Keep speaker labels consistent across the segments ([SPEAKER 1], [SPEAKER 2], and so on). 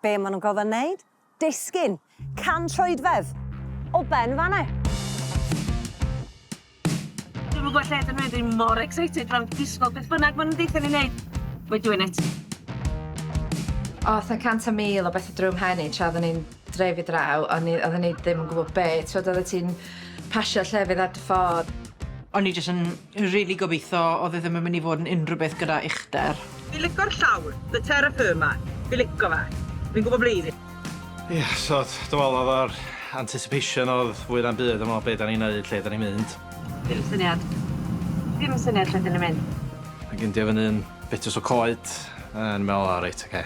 [SPEAKER 1] Be' ma' nw'n gorfod neud? Disgyn! Can troedfedd! O ben fan 'ne!
[SPEAKER 2] Dwi'm yn gwbo lle dyn ni ddim mor excited fel disgwl beth bynnag ma' nw'n deutha ni neud. We're doing it.
[SPEAKER 3] O'th 'na cant a mil o bethe drw'm mhen i tra odden ni'n dreifio draw o'n i odden i ddim yn gwbo be' t'wod oddet ti'n pasio llefydd ar dy ffôn. O'n i jys yn
[SPEAKER 4] Dwi rili gobitho odd e ddim yn mynd i fod yn unrhyw beth gyda uchder. Fi lico'r llawr,
[SPEAKER 5] the terra firma, fi lico fe. Fi'n gwbo ble i fyn. Ia, so
[SPEAKER 6] dw me'wl odd yr anticipation odd fwy na'm byd am be' da ni'n neud, lle da ni'n mynd. Dim syniad.
[SPEAKER 2] Dim yn syniad lle da ni'n mynd. Ag indio fyny'n
[SPEAKER 6] betws o coed, yn me'wl o reit oce.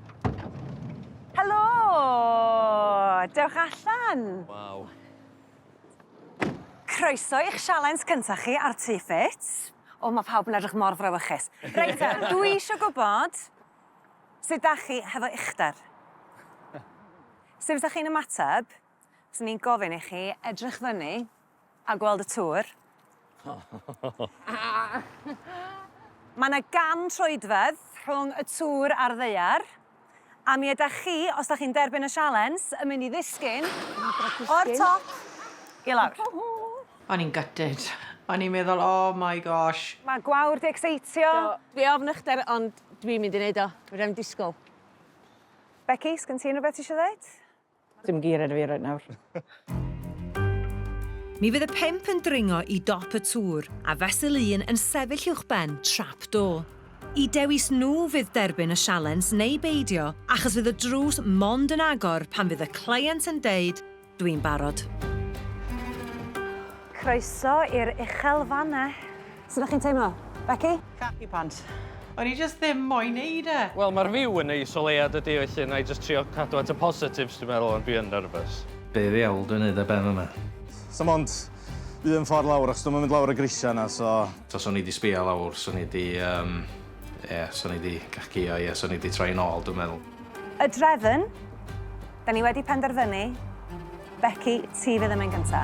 [SPEAKER 1] Helo! Dewch allan! Waw. Croeso i'ch sialens cynta chi ar Tŷ Ffit. O ma' pawb yn edrych mor frawychus. Reit te, dwi isio gwbod sut 'dach chi hefo uchder. Sut fysa chi'n ymateb os o'n i'n gofyn i chi edrych fyny A gweld y tŵr. Mae yna gan troedfedd rhwng y tŵr a'r ddaear, a mi ydych chi, os da chi'n derbyn y sialens, yn mynd i ddisgyn o'r top i lawr. O'n i'n
[SPEAKER 4] gutted. O'n i'n meddwl, oh my gosh. Mae gwawr 'di
[SPEAKER 1] ecseitio. Do, dwi ofn uchder
[SPEAKER 2] ond dwi'n mynd i neud o. Fedra i'm disgwl.
[SPEAKER 1] Becky, sgen ti unrhywbeth ti isio ddeud? Dim geiriau
[SPEAKER 5] 'da fi reit nawr.
[SPEAKER 7] Mi fydd y pump yn dringo i dop y tŵr, a fesul un yn sefyll uwchben trap door. Y dewis nhw fydd derbyn y sialens neu beidio, achos fydd y drws mond yn agor pan fydd y cleient yn deud, Dwi'n barod.
[SPEAKER 1] Croeso i'r uchel fannau. Sut ydych chi'n teimlo? Becky? Khaki pants.
[SPEAKER 5] O'n i jyst ddim
[SPEAKER 4] moyn neud e! Wel mae'r view yn neis
[SPEAKER 8] o leia dydi felly wna i jyst trio cadw at y positives dwi'n meddwl ond dwi yn nervous. Be ddiawl dwi'n
[SPEAKER 6] neud ar ben yma? Sa'm ond
[SPEAKER 9] un ffordd lawr achos dwi'm yn mynd lawr y grisia yna so. Tasa o'n i di sbio
[SPEAKER 6] lawr swn i di yym ie swn i di gacio ie swn i di troi yn ôl dwi'n meddwl. Y drefn!
[SPEAKER 1] Da ni wedi penderfynu Becky ti fydd yn mynd gynta.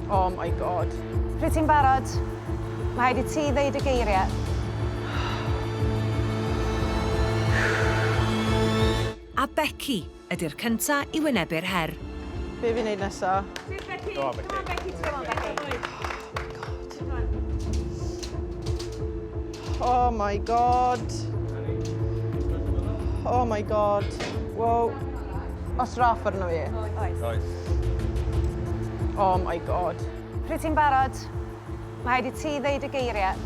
[SPEAKER 5] Oh my God. Pryd ti'n barod,
[SPEAKER 1] mae rhaid i ti ddeud y geiriau.
[SPEAKER 7] A Becky ydy'r cynta i wynebu'r her. Be fi'n neud
[SPEAKER 5] nesa? Sut Becky? Go on
[SPEAKER 2] Becky. Go on Becky. Go on Becky. Oh my God.
[SPEAKER 5] Oh my god. Oh my god. Wow. Os raff arno fi. Oes. Oes. Oh my god. Pryd ti'n barod,
[SPEAKER 1] mae rhaid i ti ddeud y geiriau.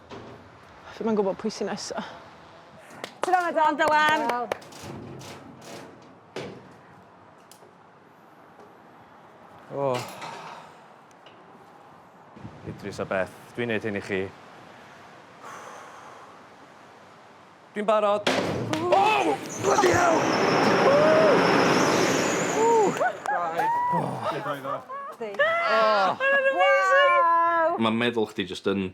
[SPEAKER 5] Ddim yn gwybod pwy sy'n nesa. Tro
[SPEAKER 1] na Don Dylan!
[SPEAKER 8] O. Oh. Idris a Beth, dwi'n neud hyn i chi.
[SPEAKER 9] Dwi'n
[SPEAKER 8] barod.
[SPEAKER 9] Oh! Bloody
[SPEAKER 10] hell! Mae'n meddwl chdi jyst yn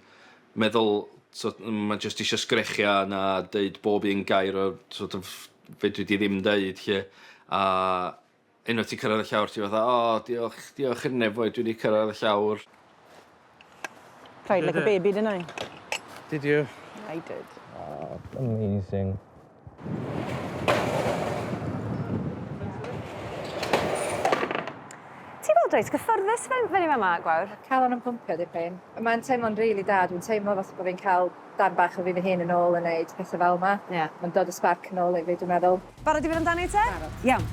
[SPEAKER 10] meddwl so, mae jyst eisiau sgrechiau na deud bob un gair o sort of, fedri di ddim deud lle. A unwaith ti'n cyrraedd y llawr, ti'n fatha, o, oh, diolch, diolch i'r nefoedd, dwi wedi cyrraedd y llawr.
[SPEAKER 5] Cried like a baby, didn't I? Did you?
[SPEAKER 6] I did.
[SPEAKER 5] Oh,
[SPEAKER 6] amazing.
[SPEAKER 1] Ti'n gweld reit gyffyrddus fe- fyny fama, Gwawr? Calon yn pwmpio dipyn.
[SPEAKER 3] Mae'n teimlo'n rili da, dwi'n teimlo fatha bod fi'n cael darn bach o fi fy hun yn ôl yn neud pethe fel 'ma. Ie. Ma'n dod y sbarc
[SPEAKER 1] yn ôl
[SPEAKER 3] i fi dwi'n meddwl. Barod i fynd amdani te?
[SPEAKER 1] Barod. Iawn.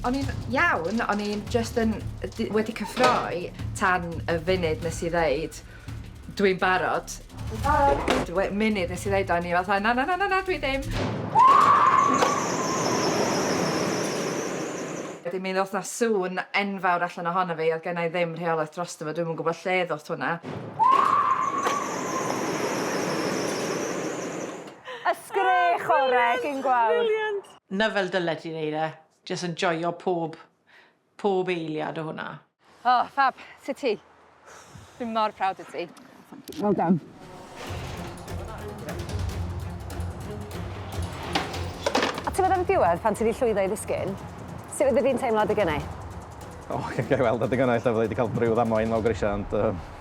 [SPEAKER 3] O'n i'n iawn, o'n i'n jyst yn wedi cyffroi tan y funud nes i ddeud Dwi'n barod. Dwi'n barod. Wait, munud nes i ddeud o'n i fatha, na, na, na, na, na, dwi ddim. Wedyn mi ddoth na sŵn enfawr allan ohono fi, oedd gennau ddim rheolaeth drosto fo, dwi'm yn gwybod lle ddoth hwnna.
[SPEAKER 1] Y sgrech orau, gyn gwawr. Brilliant! Na fel dyle
[SPEAKER 4] ti wneud e. Jyst yn joio pob pob eiliad o hwnna. O, ffab,
[SPEAKER 3] sut ti? Dwi mor proud o ti. Well done.
[SPEAKER 1] A ti'n meddwl am y diwedd, pan ti wedi llwyddo i ddisgyn, sut fyddi di'n teimlo adeg yna? O,
[SPEAKER 6] ga'i weld adeg yna, ella fydda i wedi cael breudd amoen lawr grisiau, ond yy...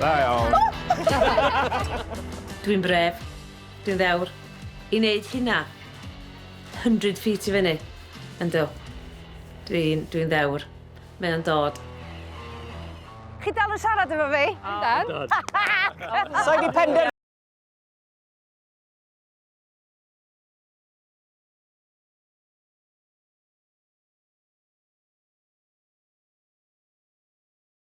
[SPEAKER 9] Da iawn.
[SPEAKER 2] Dwi'n bref, dwi'n ddewr, i neud hynna. Hundred feet i fyny. Yndw. Dwi'n, dwi'n ddewr. Mae o'n dod.
[SPEAKER 1] Chi dal yn siarad efo fi? Yndan.
[SPEAKER 5] Yndan. Sai di penderfynu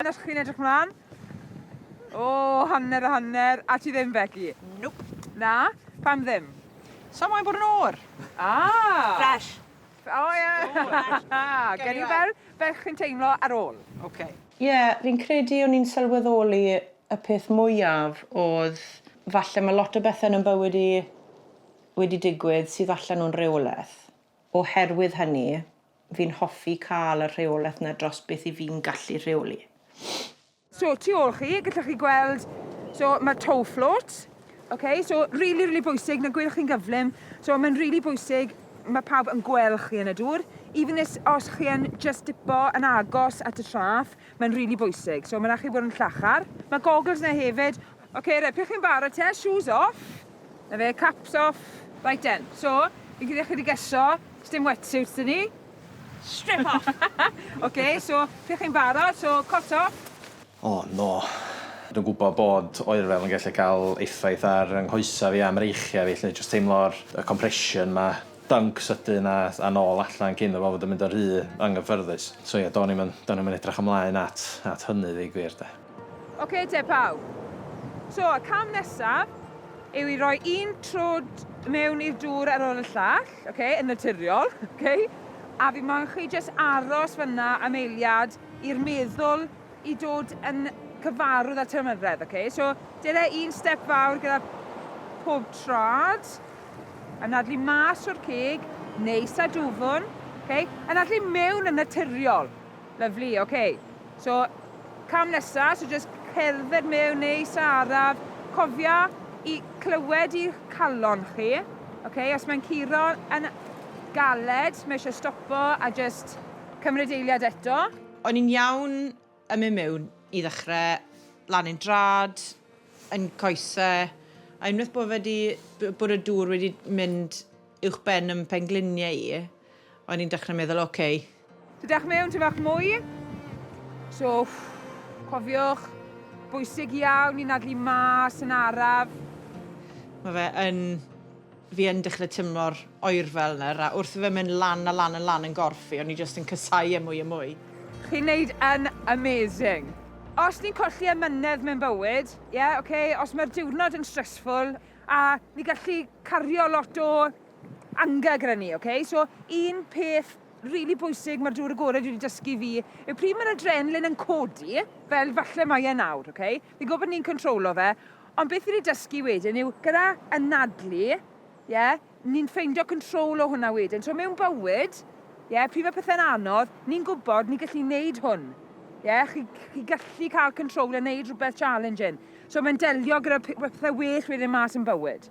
[SPEAKER 11] Dyna chi'n edrych mlaen? O, oh, hanner a hanner. A ti ddim, Becky? Nope. Na?
[SPEAKER 5] Pam
[SPEAKER 11] ddim? Sa moyn bod yn
[SPEAKER 5] o'r. Ah!
[SPEAKER 2] Fresh. O, oh,
[SPEAKER 11] ie. Yeah. Gen i fel, fel chi'n teimlo ar ôl. Oce. Okay. Ie,
[SPEAKER 5] yeah, fi'n
[SPEAKER 4] credu o'n i'n sylweddoli y peth mwyaf oedd falle mae lot o bethau yn bywyd i wedi digwydd sydd allan o'n rheolaeth. Oherwydd hynny, fi'n hoffi cael y rheolaeth 'na dros beth 'y fi'n gallu rheoli. So,
[SPEAKER 11] tu ôl chi, gallwch chi gweld, so, mae toe float, ok, so, rili, rili bwysig, na gwelwch chi'n gyflym, so, mae'n rili bwysig, mae pawb yn gweld chi yn y dŵr, even this, os chi yn just dipo yn agos at y traff, mae'n rili bwysig, so, mae'n rhaid chi fod yn llachar. Mae goggles 'na hefyd, ok, reit, pryd chi'n barod te, shoes off, 'Na fe, caps off. Reit den, so, fi'n credu allai di geso, sdim wetsuits da ni. Strip off!
[SPEAKER 2] Ok, so,
[SPEAKER 11] pryd chi'n barod, so, cot off. O, no.
[SPEAKER 6] Dwi'n gwybod bod oerfel yn gallu cael effaith ar fy nghoesau fi a mreichiau fi 'lly, jyst teimlo'r y compression 'ma, dunk sydyn a a nôl allan cyn iddo fo fod yn mynd yn rhy anghyffyrddus. So ie, do'n i'm yn do'n i'm yn edrych ymlaen at at hynny ddeu gwir de.
[SPEAKER 11] Ok te pawb. So, y cam nesaf yw i roi un trwd mewn i'r dŵr ar ôl y llall, ok, yn naturiol, ok? A fi moyn chi jyst aros fanna am eiliad i'r meddwl i dod yn cyfarwydd â'r teimladredd, ok? So, dyle un step fawr gyda pob trad, yn adlu mas o'r cig, neis a dwfwn, ok? Yn adlu mewn yn naturiol, Lyfli, ok. So, cam nesa, so jyst cerdded mewn, neis a araf. Cofia i clywed i'ch calon chi. Ok, os mae'n curo yn galed, mae eisiau stopo a jyst cymryd eiliad eto. O'n i'n iawn
[SPEAKER 4] yn mynd mewn i ddechrau, lan i'n drad, yn coesau, a unwaith bod fe 'di, bod y dŵr wedi mynd uwchben yn pengliniau i, O'n i'n dechrau meddwl, oce. Okay. So dewch
[SPEAKER 11] mewn ti fach mwy. So, cofiwch, bwysig iawn i nadlu mas yn araf. Mae
[SPEAKER 4] fe yn fi yn dechrau tymlo'r oer fel yna, a wrth fe mynd lan a lan a lan yn gorff fi, o'n i jyst yn cysau e mwy a mwy. Chi'n neud
[SPEAKER 11] yn amazing. Os ni'n colli amynedd mewn bywyd, ie, yeah, oce, okay, os mae'r diwrnod yn stressful, a ni gallu cario lot o anger gyda ni, ok? So, un peth rili bwysig mae'r dŵr agored wedi dysgu fi yw pryd mae'r adrenalin yn codi, fel falle mae e nawr, ok? Fi'n gwybod bod ni'n controlo fe, ond beth fi wedi dysgu wedyn yw gyda anadlu, ie, ni'n ffeindio control o hwnna wedyn. So mewn bywyd, ie, pryd mae pethau'n anodd, ni'n gwybod ni'n gallu neud hwn. Ie, chi, chi gallu cael control a neud rhywbeth challenging. So mae'n delio gyda pethau well wedyn mas yn bywyd.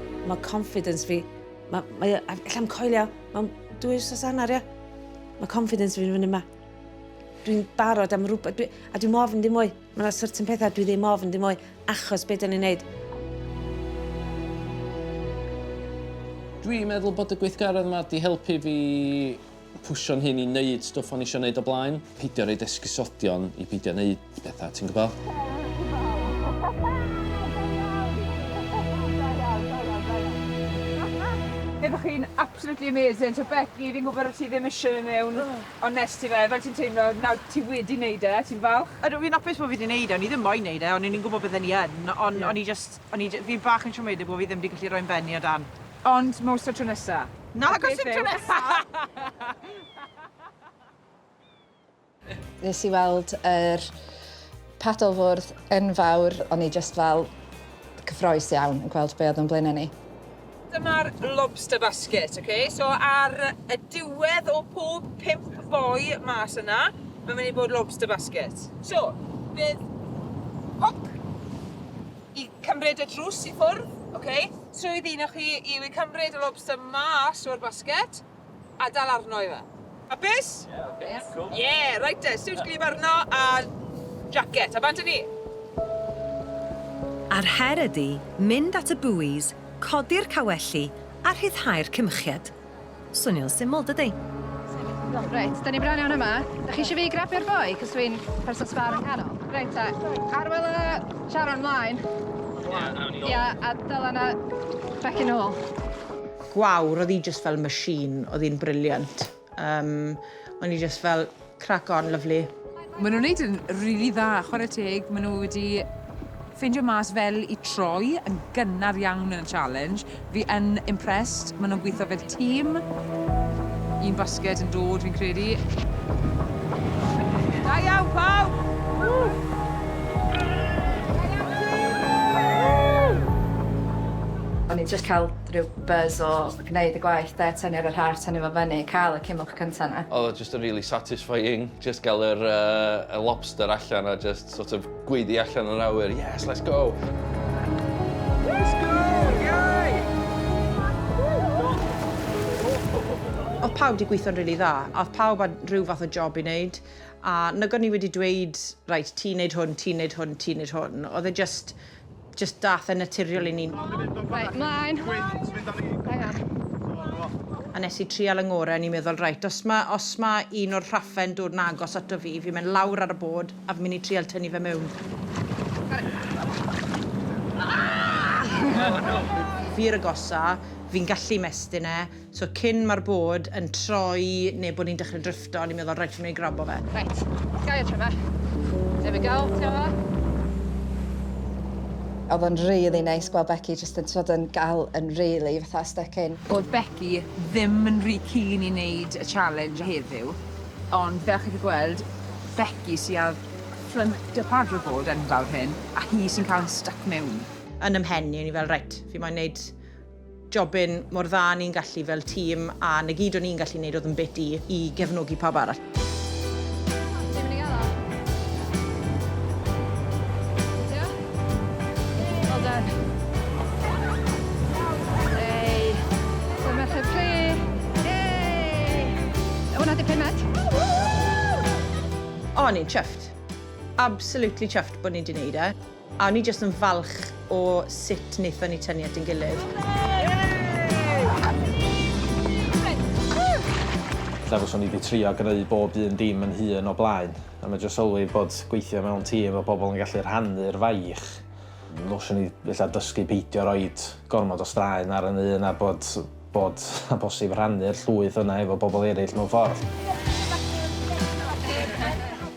[SPEAKER 2] Mae confidence fi... Mae... mae... Alla i'm coelio. Mae'n dwy wrsos anner, ia. Mae confidence fi'n fyny yma. Dwi'n barod am rhywbeth. Dwi... A dwi'n ofn dim mwy. Mae yna certain pethau dwi ddim ofn dim mwy. Achos beth dyn ni'n neud.
[SPEAKER 8] Dwi'n meddwl bod y gweithgaredd yma wedi helpu fi Pwsio'n hun i wneud stwff o'n i isio wneud o blaen. Peidio roid esgusodion i beidio wneud pethau, ti'n gwybod?
[SPEAKER 11] Byddwch chi'n absolutely amazing. So Becky, fi'n gwybod bod ti ddim eisiau mynd mewn, ond nes ti fe, fel ti'n teimlo, nawr ti wedi wneud e, ti'n falch? Ydw, fi'n apus bod fi wedi wneud
[SPEAKER 4] e, o'n i ddim moyn wneud e, ond o'n i'n gwybod bydden i yn, ond o'n i jyst, o'n i, fi bach yn siomedig bod fi ddim wedi gallu rhoi yn ben i o dan. Ond mor so tro
[SPEAKER 11] nesa. Nag os yn tro nesa!
[SPEAKER 3] Nes i weld yr paddlefwrdd yn fawr, o'n i jyst fel cyffroes iawn yn gweld be oedd o'n blaenau ni. Dyma'r
[SPEAKER 11] lobster basket, ok? So ar y diwedd o pob pump boi mas yna, mae'n mynd i bod lobster basket. So, bydd hook I cymryd y drws i ffwrdd, ok. Swydd un o chi yw i cymryd y lobster mas o'r basget a dal arno i fe. Hapus? Ie, cool. Ie, reit te, siwt gwlyb arno a jacket, a bant a ni!
[SPEAKER 7] A'r her ydi mynd at y buoys, codi'r cawelli a rhyddhau'r cymchiad. Swnio'n syml, dydi? Iawn, reit,
[SPEAKER 3] 'da ni'n bron iawn yma. Dach chi isio fi grabio'r boi, 'c'os dwi'n person sbâr yng nghanol? Reit ta, Arwel a Sharon mlaen. Ia, awn ni nôl. Ia, a Dylan a Becky nôl. Gwawr,
[SPEAKER 4] oedd hi jyst fel machine, oedd hi'n brilliant. Yym, o'n i jyst fel... Crack on, lovely. Mae nhw'n neud yn
[SPEAKER 11] rili dda, chwarae teg, mae nhw wedi ffeindio mas fel i troi yn gynnar iawn yn y challenge. Fi yn impressed, mae nhw'n gweithio fel tîm. Un basged yn dod fi'n credu. Da iawn pawb!
[SPEAKER 3] O'n i'n jyst cael rhyw buzz o gwneud y gwaith 'de, tynnu ar yr heart, tynnu fo fyny, cael y cymwlch cynta 'na. Odd o Jyst yn rili
[SPEAKER 10] satisfying jyst gael yr yy y lobster allan a jyst sort of gweiddi allan yr awyr yes let's go! Let's go! Iei!
[SPEAKER 4] Oedd pawb 'di gweithio'n rili dda a oedd pawb â rhyw fath o job i wneud a nag o'n i wedi dweud reit ti'n wneud hwn ti'n wneud hwn ti'n wneud hwn oedd e jyst Jyst dath e'n naturiol i ni. Reit, mlaen.
[SPEAKER 3] Hang on.
[SPEAKER 4] A nes i trial yn ngore, o'n i'n meddwl, reit, os ma, os ma un o'r rhaffe yn dod yn agos ato fi, fi'n mynd lawr ar y bod a fi'n mynd i trial tynnu fe mewn. Fi yw'r agosa, fi'n gallu mestyn e. So cyn ma'r board yn troi neu bod ni'n dechrau dryffto, o'n i'n meddwl reit, fi'n mynd i grabo fe. Reit, gau y
[SPEAKER 3] tryfa. There we go, ti'n gwybod be? Oedd o'n rili neis gweld Becky jyst yn t'mod yn gal yn rili fatha styc in. Oedd Becky
[SPEAKER 11] ddim yn rhy keen i neud y challenge heddiw, ond fel chi 'di gweld, Becky sy ar ffrynt y paddleboard enfawr hyn, a hi sy'n cael yn styc mewn. Yn 'y mhen i, o'n
[SPEAKER 4] i fel reit, fi moyn neud jobyn mor dda a ni'n gallu fel tîm a 'na gyd o'n i'n gallu neud oedd yn bit i i gefnogi pawb arall. O, o'n i'n chuffed. Absolutely chuffed bod ni 'di neud e. A o'n i jyst yn falch o sut wnaethon ni tynnu at ein gilydd.
[SPEAKER 6] Lle fyswn i wedi trio greu bob un dim yn hun o blaen, a mae jyst sylwi bod gweithio mewn tîm a pobl yn gallu rhannu'r faich. Fyswn i ella dysgu peidio roed gormod o straen ar yn un a bod bod yn bosib rhannu'r llwyth yna efo pobl eraill mewn ffordd.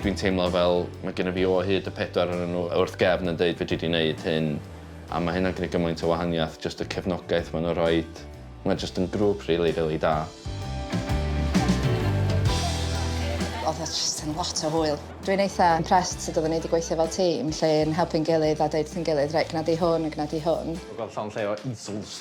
[SPEAKER 8] Dwi'n teimlo fel mae gennyf fi o hyd y pedwar ohonyn nhw wrth gefn yn deud fedri di wneud hyn a mae hynna'n gwneud gymaint o wahaniaeth jyst y cefnogaeth maen nhw'n rhoi. Mae jyst yn grŵp rili, rili da.
[SPEAKER 3] Oedd o jyst yn lot o hwyl. Dwi'n eitha impressed sut oedden ni 'di gweithio fel tîm lle yn helpu'n gilydd a deud wrth ein gilydd 'reit gwna di hwn a gwna di hwn'. Gweld llond lle o
[SPEAKER 6] easels.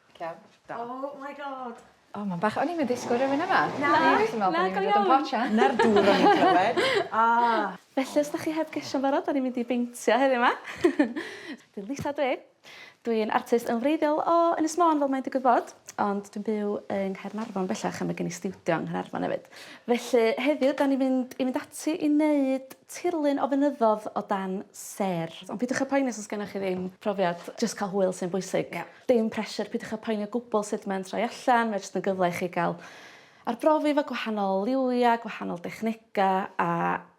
[SPEAKER 2] Iawn.
[SPEAKER 11] Da. Oh my God. O ma'n bach... O'n i'm
[SPEAKER 3] yn disgwl rywun yma. Na. O'n i jyst yn
[SPEAKER 2] me'wl bo' ni'n mynd i fod yn potsian. 'Na'r dŵr o'n i'n clywed.
[SPEAKER 4] O! Felly
[SPEAKER 2] os 'dach chi heb geisio'n barod 'dan ni'n mynd i beintio heddiw 'ma. Dwi'n Lisa dw i. Dw i'n artist yn wreiddiol o Ynys Môn fel mae'n digwydd bod ond dwi'n byw yng Nghaernarfon bellach a ma' gen i stiwdio yng Nghanarfon hefyd. Felly heddiw 'dan ni'n mynd i fynd ati i neud tirlun o fynyddo'dd o dan sêr. Ond peidiwch â poeni os o's gennoch chi ddim profiad jyst ca'l hwyl sy'n bwysig. Ia. Dim pressure, peidiwch â poeni o gwbl sut mae'n troi allan, mae jyst yn gyfle i chi gael arbrofi efo gwahanol liwia, gwahanol dechnega a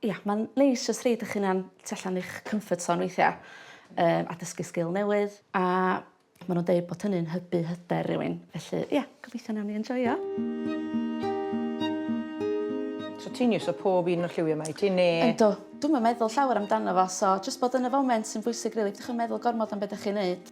[SPEAKER 2] ia, mae'n neis jyst rhoid 'ych hunan tu allan i'ch comfort zone weithia, yym a dysgu sgil newydd a ma' nw'n deud bod hynny'n hybu hyder rywun, felly ia, gobeithio nawn ni enjoio.
[SPEAKER 4] So ti'n iwso pob un o'r lliwia 'ma wyt ti ne'... Yndw. Dwi'm yn
[SPEAKER 2] meddwl llawer amdano fo so jyst bod yn y foment sy'n bwysig rili, peidiwch â meddwl gormod am be' 'dach chi'n neud.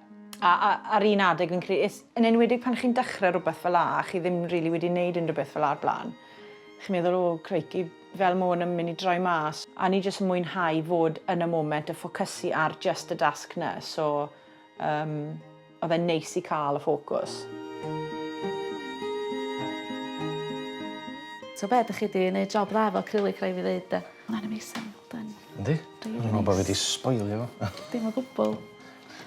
[SPEAKER 4] A, a, ar un adeg fi'n credu, yn enwedig pan chi'n dechrau rhywbeth fel la, a chi ddim rili really wedi wneud unrhyw beth fel la ar blaen, chi'n meddwl, o, crikey, fel mae hwn yn mynd i droi mas. A ni jyst yn mwynhau fod yn y moment a ffocysu ar just y dasg na, so um, oedd e'n neis i cael y ffocws.
[SPEAKER 2] So be, ydych chi wedi gwneud job dda efo acrylic, rhaid fi ddeud. Mae'n amazing, well done.
[SPEAKER 6] Yndi? Dwi'n meddwl bod fi wedi sboilio fo. Dim o gwbl.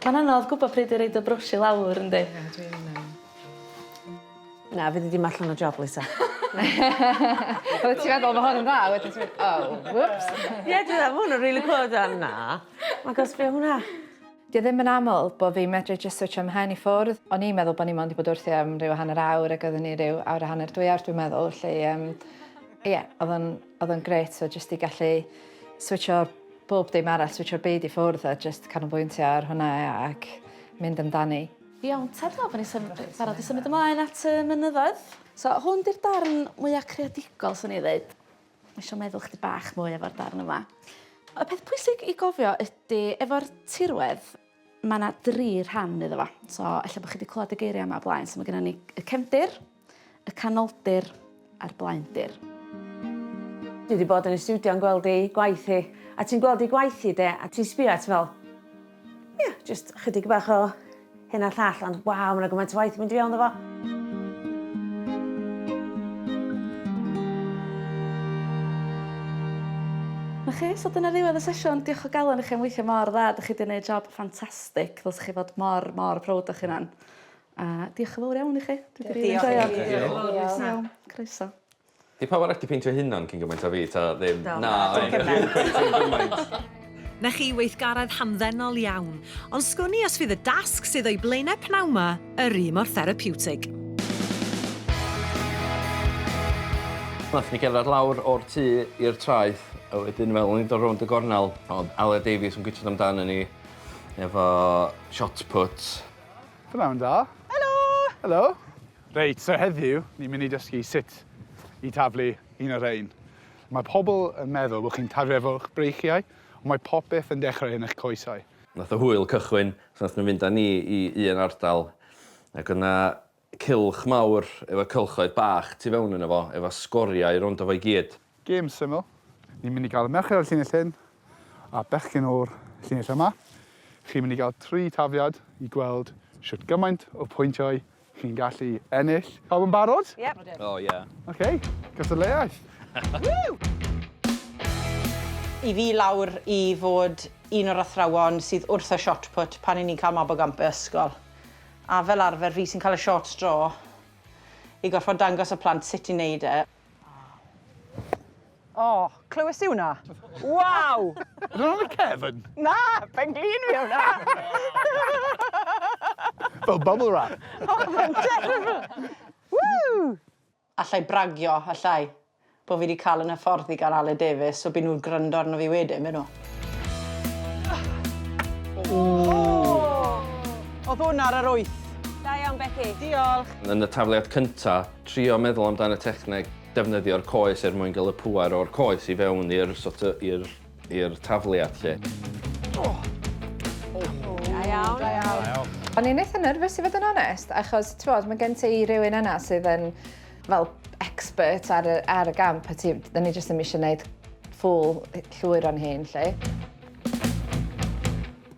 [SPEAKER 2] Mae'n anodd gwbo pryd i roid y brwsh i lawr yndi? Ie dwi'n yym.
[SPEAKER 4] Na fyddi di'm allan o job Lisa.
[SPEAKER 3] Oddet ti feddwl bo hwn yn dda a wedyn ti mynd o whoops. Ie dwi me'wl ma' 'wn yn
[SPEAKER 4] rili clywed yn dda. Ma'n gosh be' o hwnna? Dyw e ddim yn
[SPEAKER 3] aml bo fi'n medru jyst switsio mhen i ffwrdd. O'n i'n meddwl bo ni mond 'di bod wrthi am ryw hanner awr ag oeddwn i ryw awr a hanner dwy awr dwi'n meddwl 'lly yym ie odd o'n Oedd o'n grêt tibod jyst i gallu switsio bob dim arall, switsio'r byd i ffwrdd a jyst canolbwyntio ar hwnna ac mynd amdani. Iawn ta, dwi'n meddwl bod
[SPEAKER 2] ni'n sym- yy barod i symud ymlaen at y mynyddoedd. So hwn 'di'r darn mwya' creadigol swn i ddeud. Ma' isio meddwl chydig bach mwy efo'r darn yma. Y peth pwysig i gofio ydi efo'r tirwedd
[SPEAKER 12] ma' 'na dri rhan iddo fo. So ella bo' chi 'di clwad y geiria' yma o blaen so ma' gynnon ni y cefndir, Y Canoldir a'r Blaendir.
[SPEAKER 2] Dwi 'di bod yn ei stiwdio yn gweld ei gwaith hi, a ti'n gweld ei gwaith hi de, a ti'n sbio a ti fel, ia, jyst chydig bach o hyn a llall, ond waw, mae yna gymaint o waith yn mynd i fewn iddo fo.
[SPEAKER 12] Na chi, so dyna ddiwedd y sesiwn. Diolch o galon i chi am weithio mor dda, dych chi 'di neud job ffantastig, ddylsech chi fod mor, mor proud o'ch hunan. A diolch yn fowr iawn i chi. Dwi 'di rili enjoio. Diolch i chi. Diolch. Iawn. Croeso. 'Di pawb arall
[SPEAKER 8] 'di peintio'u hunan cyn gymaint a fi ta ddim? Do. Na. Na dim cymaint. Dim cweit dim gymaint.
[SPEAKER 7] 'Na chi, weithgaredd hamddenol iawn. Ond sgwn i os fydd y dasg sydd o'i blaenau pnawn 'ma yr un mor therapiwtig.
[SPEAKER 8] Nathon ni gerddad lawr o'r tŷ i'r traeth a wedyn fel o'n ni'n dod rownd y gornel o'dd Aled Davies yn gwitsiad amdanon ni efo shot put. Pnawn da.
[SPEAKER 13] Helo! Helo! Reit, so heddiw, ni'n mynd i dysgu sut i taflu un o rhain. Mae pobl yn meddwl bod chi'n taflu efo'ch breichiau, ond mae popeth yn dechrau yn eich coesau. Nath y hwyl
[SPEAKER 8] cychwyn pan nathon nhw mynd â ni i un ardal ac o'dd 'na cylch mawr efo cylchoedd bach tu fewn yno fo efo sgoriau rowndo fo i gyd. Gêm syml.
[SPEAKER 13] Ni'n mynd i gael y merched o'r llinell hyn a bechgyn o'r llinell yma. Chi'n mynd i gael tri tafiad i gweld sut gymaint o pwyntiau chi'n gallu ennill. Pawb yn barod? Yep. Oh yeah.
[SPEAKER 1] OK,
[SPEAKER 13] cystadleuaeth.
[SPEAKER 4] I fi lawr i fod un o'r athrawon sydd wrth y shot put pan i ni'n cael mab o gamp y ysgol. A fel arfer fi sy'n cael y short straw i gorfod dangos y plant sut i wneud e.
[SPEAKER 5] O, oh, clywes i hwnna? Waw! Yn ôl y
[SPEAKER 13] cefn? Na, pen
[SPEAKER 5] glin fi hwnna!
[SPEAKER 13] Fel bubble wrap. Oh, mae'n
[SPEAKER 5] terrible! Woo! Allai
[SPEAKER 4] bragio, allai, bod fi wedi cael yn hyfforddi gan Ale Davies, so byd nhw'n gryndo arno fi wedyn, byd nhw. Oedd hwn ar yr wyth. Da iawn, Becky.
[SPEAKER 1] Diolch. Yn y
[SPEAKER 4] tafliad
[SPEAKER 8] cyntaf, Trio meddwl amdan y techneg defnyddio'r coes er mwyn gael y pŵer o'r coes i fewn i'r sort of, i'r, i'r tafliad lle. Oh.
[SPEAKER 1] Oh. Da iawn. Da iawn. O'n i'n eitha nerfus
[SPEAKER 3] i fod yn onest, achos ti'n bod, mae gen ti rhywun yna sydd yn fel expert ar y, ar y gamp, a ti, da ni jyst yn eisiau gwneud ffwl llwyr o'n hun, lle.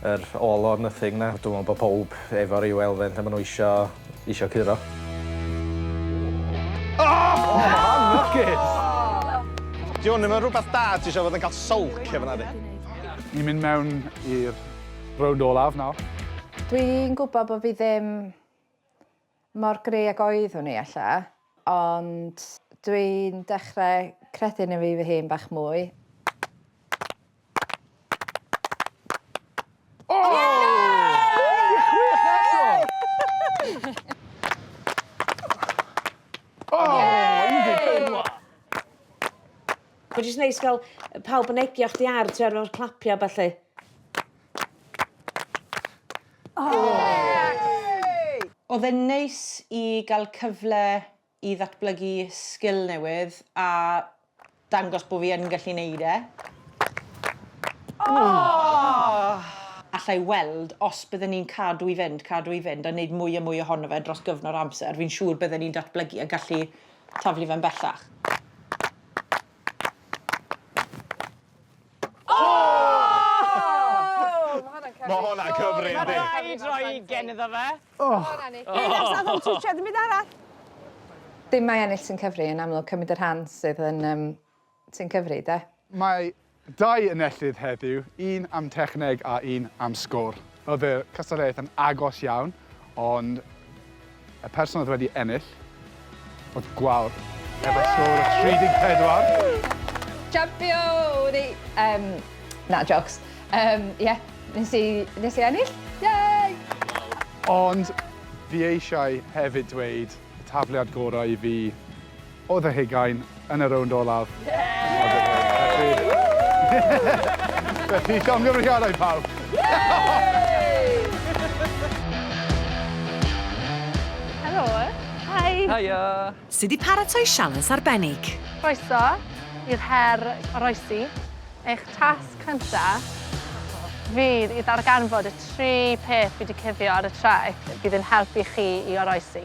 [SPEAKER 6] Yr all or nothing 'na. Dwi me'wl bo' powb efo ryw elfen lle ma' n'w isio isio curo. O!
[SPEAKER 13] Anlwcus!
[SPEAKER 9] Dyw 'wn ddim yn rwbath da ti isio fod yn ca'l sylcio fan 'na di? Ni'n mynd
[SPEAKER 13] mewn i'r rownd olaf nawr. Dwi'n
[SPEAKER 3] gwbo bo' fi ddim Mor gry ag oeddwn i, ella, ond dwi'n dechrau credu yno fi fy hun bach mwy.
[SPEAKER 2] Mae jyst neis gael pawb yn egio chdi ar, tibod, efo'r clapiau a ballu.
[SPEAKER 4] Oedd e'n neis i gael cyfle i ddatblygu sgil newydd a dangos bod fi yn gallu wneud e. Alla i weld os bydden ni'n cadw i fynd, cadw i fynd a wneud mwy a mwy ohono fe dros gyfnod o amser, fi'n siŵr bydden ni'n datblygu a gallu taflu fe'n bellach.
[SPEAKER 9] Ma' hwnna'n cyfri yndi? Ma' raid roi ugen
[SPEAKER 5] iddo fe. O!
[SPEAKER 1] twtsiad dim byd arall.
[SPEAKER 3] Dim mae ennill sy'n cyfri yn amlwg cymryd y rhan sydd yn yym sy'n cyfri 'de? Mae
[SPEAKER 13] dau enellydd heddiw, un am techneg a un am sgôr. Oedd y cystadleuaeth yn agos iawn, ond y person oedd wedi ennill oedd Gwawr, efo sgôr o 34. Champion!
[SPEAKER 3] O'n i... Yym, na, jôcs. Yym, ie, nes i, nes i ennill. Yay!
[SPEAKER 13] Ond fi eisiau hefyd dweud y tafliad gorau i fi oedd y hugain yn y rownd olaf. Felly, llongyfarchiadau pawb! Helo!
[SPEAKER 12] Hi! Hiya!
[SPEAKER 10] Sydd wedi paratoi
[SPEAKER 7] sialens arbennig. Croeso
[SPEAKER 12] i'r her oroesi. Eich tasg cyntaf fydd i ddarganfod y tri peth fi wedi cuddio ar y traeth fydd yn helpu chi i oroesi.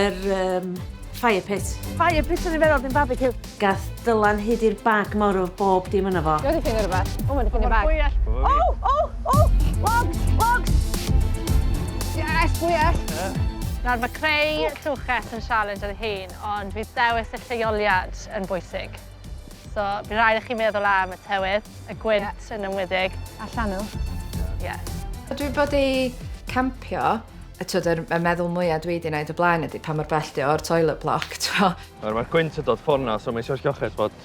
[SPEAKER 2] Yr um, fire pit. Fire pit yn ei feddwl,
[SPEAKER 12] dim barbecue. Gath dylan
[SPEAKER 2] hyd i'r bag mor o bob dim yna fo. Dwi'n ffynnu rhywbeth. O, mae'n
[SPEAKER 12] ffynnu bag. O, o, o! Logs, logs! Yes, bwyell! Yeah. Nawr mae creu trwches yn sialens ar ei hun, ond bydd dewis y lleoliad yn bwysig. So, bydd rhaid i chi meddwl am y tywydd, y gwynt yeah. yn ymwydig. A llanw. Ie. Yeah. Dwi bod
[SPEAKER 3] i campio, y twyd, yr, y meddwl mwyaf dwi wedi gwneud y blaen ydy pa mor bell di o'r toilet block, twa. Mae'r gwynt
[SPEAKER 10] yn dod fforna, so mae eisiau lloches bod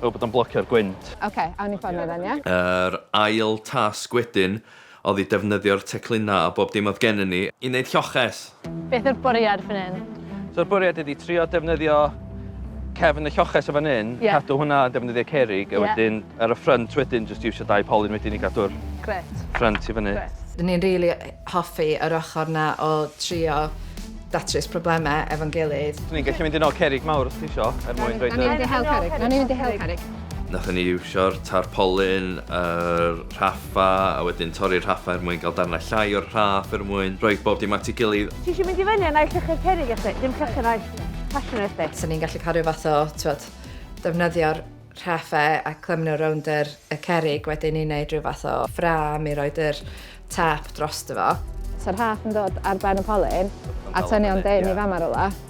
[SPEAKER 10] fel bod o'n blocio'r gwynt. Oce, okay, awn i ffordd
[SPEAKER 12] yna, ie? Yr ail
[SPEAKER 10] tasg wedyn Oedd i defnyddio'r teclynau a bob dim oedd gennyn ni i wneud lloches! Beth yw'r bwriad
[SPEAKER 12] fan hyn? So y bwriad ydi
[SPEAKER 10] trio defnyddio cefn y lloches o fan hyn, cadw hwnna yn defnyddio cerrig a wedyn ar y ffrynt wedyn jyst iwsio dau polyn wedyn i gadw'r ffrynt i fyny. Ry'n ni'n rili
[SPEAKER 3] hoffi yr ochr 'na o trio datrys problemau efo'n gilydd. Ry'n ni'n gallu mynd i nôl cerrig
[SPEAKER 10] mawr os ti isio er mwyn rhoid y... Nawn ni fynd i hel
[SPEAKER 12] cerrig. Nathon ni iwsio'r
[SPEAKER 10] tarpolin, yr rhaffa a wedyn torri'r rhaffa er mwyn cael darnau llai o'r rhaff er mwyn rhoi bob dim at ei gilydd. Ti isio mynd i fyny a naill
[SPEAKER 12] llychyr cerrig a dim llychyr naill passion ar chdi? 'Sen ni'n gallu cael rhyw fath o,
[SPEAKER 3] t'mod, defnyddio'r rhaffe a clymu nhw rownd yr y cerrig wedyn i neud rhyw fath o ffrâm i roid yr tâp drosto fo. Sa'r rhaff yn dod
[SPEAKER 12] ar ben y polyn a tynnu o'n dyn i fama rywle.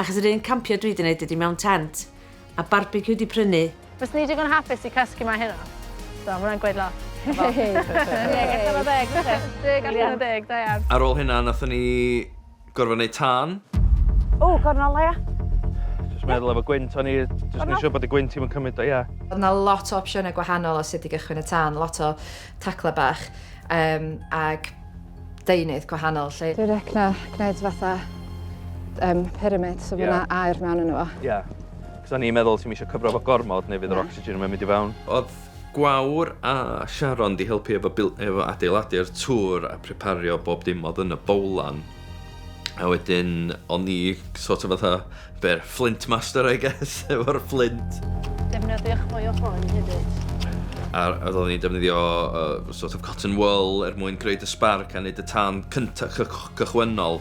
[SPEAKER 2] Achos yr un campio dwi 'di neud ydi mewn tent, a barbeciw 'di prynu. Fyswn i digon hapus
[SPEAKER 12] i cysgu 'ma heno. So, ma' hwnna'n gweud lot. Deg allan o ddeg fyse? Deg allan o deg, da iawn. Ar ôl hynna nathon ni
[SPEAKER 10] gorfod neud tân. O,
[SPEAKER 12] gornel dda ia. Jyst meddwl
[SPEAKER 10] efo gwynt o'n i jyst neu' siŵr bod y gwynt 'im yn cymyd o ia. O'dd 'na lot o
[SPEAKER 3] opsiyne gwahanol o sut i gychwyn y tân, lot o taclau bach um, ag deunydd gwahanol. Lle... Dwi'n rec na
[SPEAKER 12] gwneud fatha um, pyramid, so yeah. fyna air mewn yn efo. Ie. Yeah. Cos
[SPEAKER 10] o'n i'n meddwl ti'n eisiau cyfro fo gormod neu fydd yr oxygen yn mynd i fewn. Oedd Gwawr a Sharon di helpu efo, efo adeiladu'r tŵr a prepario bob dim oedd yn y bowlan. A wedyn, o'n ni sort of fatha, be'r Flint Master, I guess, efo'r Flint. Defnyddiwch
[SPEAKER 12] mwy o hwn hefyd. A oedd
[SPEAKER 10] ni'n defnyddio uh, sort of cotton wool er mwyn creu dy sbarc a wneud y tân cyntaf cychwynnol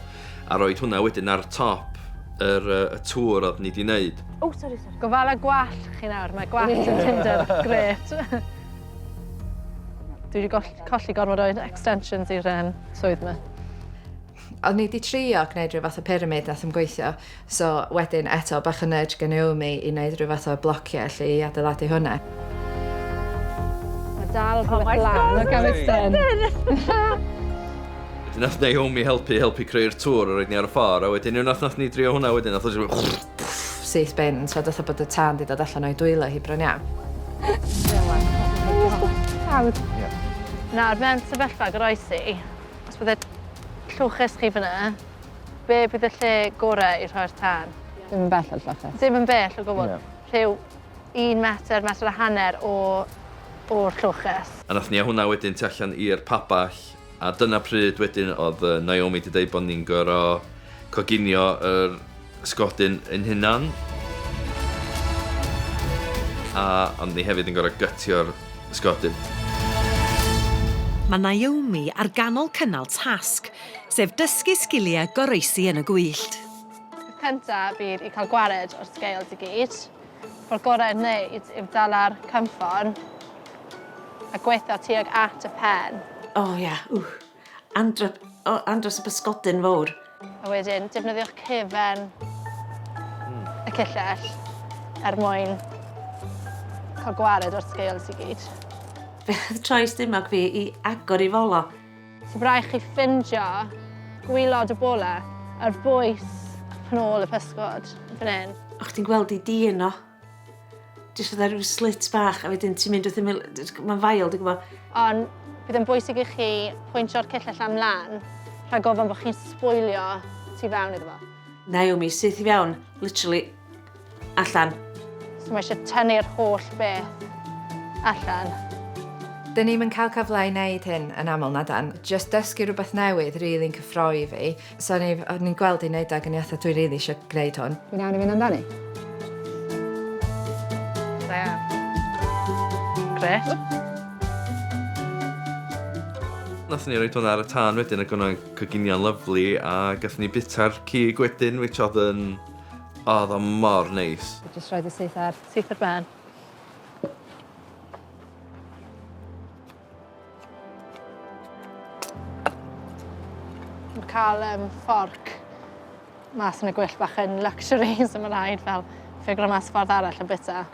[SPEAKER 10] a roed hwnna wedyn ar top yr, uh, y tŵr oedd ni wedi wneud. Oh, sorry, sorry. Gofala
[SPEAKER 12] gwallt chi nawr, mae gwallt yn Tinder, gret. Dwi wedi colli gormod o extensions i'r um, swydd yma. O'n
[SPEAKER 3] i 'di trio gwneud rhyw fath o pyramid nath ddim gweithio so wedyn eto bach o nudge gen Naomi i neud rhyw fath o blocie 'lly i adeiladu hwnna.
[SPEAKER 12] Ma' dal rhwbeth lan o Gameston!
[SPEAKER 10] Wedyn nath Naomi helpu helpu creu'r tŵr a roid ni ar y ffor a wedyn unwaith nath ni drio hwnna wedyn nath o jyst syth bin
[SPEAKER 3] so fatha bod y tân 'di dod allan o'i dwylo hi bron iawn. Nawr mewn
[SPEAKER 12] sefyllfa goroesi Os bydde lloches chi fyna, be bydd y lle gorau i rhoi'r tân? Dim yn bell o'r lloches. Dim yn bell o gwbl? No. Rhyw un metr, metr a hanner o, o'r lloches. A nath nia hwnna wedyn
[SPEAKER 10] tu allan i'r pabell, a dyna pryd wedyn o'dd yy Naomi di deud bo ni'n goro coginio yr Ysgodyn ein hunan. A ond ni hefyd yn gorau gytio'r ysgodyn. Mae
[SPEAKER 7] Naomi ar ganol cynnal tasg, sef dysgu sgiliau goroesi yn y gwyllt. Peth cyntaf
[SPEAKER 12] fydd i cael gwared o'r scales i gyd. Ffordd gorau i'w wneud yw dala'r cynffon a gweithio tuag at y pen. O ie, ww. Andro,
[SPEAKER 2] o, andros o bysgodyn fawr. A wedyn,
[SPEAKER 12] defnyddiwch cefen mm. y cyllell er mwyn cael gwared o'r scales i gyd. Fe oedd
[SPEAKER 2] troi stumog fi i agor i folo. So byddai chi
[SPEAKER 12] ffindio gwylod y bola a'r bwys pan ôl y pysgod fan hyn. O'ch ti'n gweld i di
[SPEAKER 2] yno? Jyst fydda rhyw slit bach a wedyn ti'n mynd wrth ymwyl, mae'n fael, dwi'n gwybod. Ond bydd yn
[SPEAKER 12] bwysig i chi pwyntio'r cyll allan mlaen rhag ofyn bod chi'n sbwylio tu fewn iddo fo. Naomi, syth i
[SPEAKER 2] fewn, literally, allan. So mae
[SPEAKER 12] eisiau tynnu'r holl beth allan.
[SPEAKER 3] Dyn ni'm yn cael cyfle i wneud hyn yn aml, na dan. Just dysgu rhywbeth newydd rili'n cyffroi fi. So o'n i'n ni gweld i'n neud ag o'n i atho dwi rili eisiau gwneud hwn. Dwi'n iawn i fynd amdani.
[SPEAKER 12] Da iawn. Gret.
[SPEAKER 10] Nath ni roed hwnna ar y tân wedyn ac o'n cyginion lyflu a gath ni bita'r cig wedyn which oedd yn... oedd o mor neis. Just roed y syth ar.
[SPEAKER 12] Syth ar ben. Mae'n cael um, fforc mas yn y gwyll bach yn luxury, so mae'n rhaid fel ffigro mas ffordd arall o bita.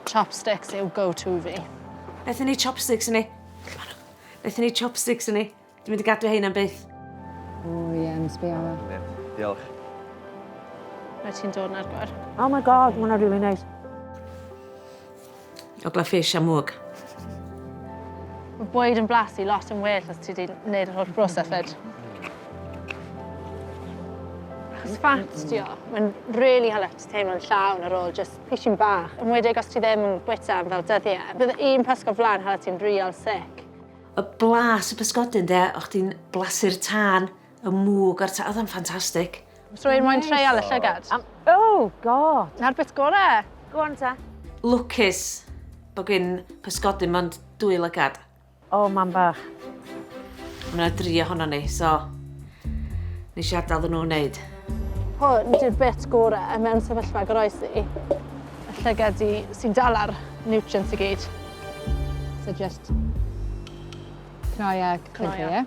[SPEAKER 12] Chopsticks yw go-to fi. Beth yn ei
[SPEAKER 2] chopsticks yn ei? Beth yn ei chopsticks yn ei? Dwi'n mynd i gadw hein am byth. O
[SPEAKER 12] ie, yeah, yn sbio. Diolch. Mae ti'n dod na'r gwar. Oh my god, mae'n
[SPEAKER 2] really nice. Ogla fish a mwg.
[SPEAKER 12] Mae bwyd yn blasu lot yn well os ti wedi gwneud yr holl broses fed. Achos fat di o, mae'n really help ti teimlo'n llawn ar ôl just pishin bach. Yn wedig os ti ddim yn bwyta am fel dyddiau. Bydd un pysgod flan hala ti'n real sick. Y blas
[SPEAKER 2] y pysgodyn de, o' chdi'n blasu'r tân, y mwg a'r tân, oedd o'n ffantastig. So i'r moyn
[SPEAKER 12] treial y llygad? Oh
[SPEAKER 2] god! Na'r bit gore!
[SPEAKER 12] Go on ta.
[SPEAKER 2] Lwcus bod gin pysgodyn mond dwy lygad. O mam bach. Mae yna dri ohonon ni, so... Nes i adael nhw wneud. Hwn di'r
[SPEAKER 12] bit gore mewn sefyllfa goroesi. Y llygad di sy'n dal ar nutrients i gyd. So just cnoi a cnoi ie?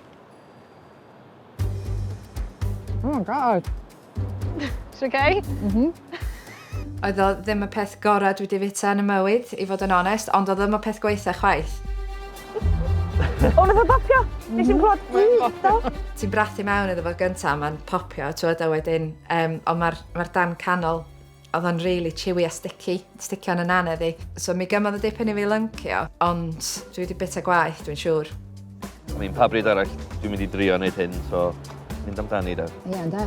[SPEAKER 12] Oh my god! It's okay? Mhm.
[SPEAKER 3] Oedd o ddim y peth gorau dwi wedi fita yn y mywyd, i fod yn onest, ond oedd o ddim y peth gwaetha chwaith.
[SPEAKER 4] O, nath o bopio! Nes i'n clod bwydo! Ti'n brathu mewn
[SPEAKER 3] iddo fo gynta, mae'n popio, ti'n gwybod, a wedyn, um, ond mae'r ma dan canol Oedd o'n really chewy a sticky, sticio yn y nane fi. So mi gymodd y dipyn i fi lyncio, ond dwi wedi bita gwaith, dwi'n siŵr. I mean, pa
[SPEAKER 8] bryd arall dwi'n mynd i drio wneud hyn, so mynd amdani da. Ie, yeah, da.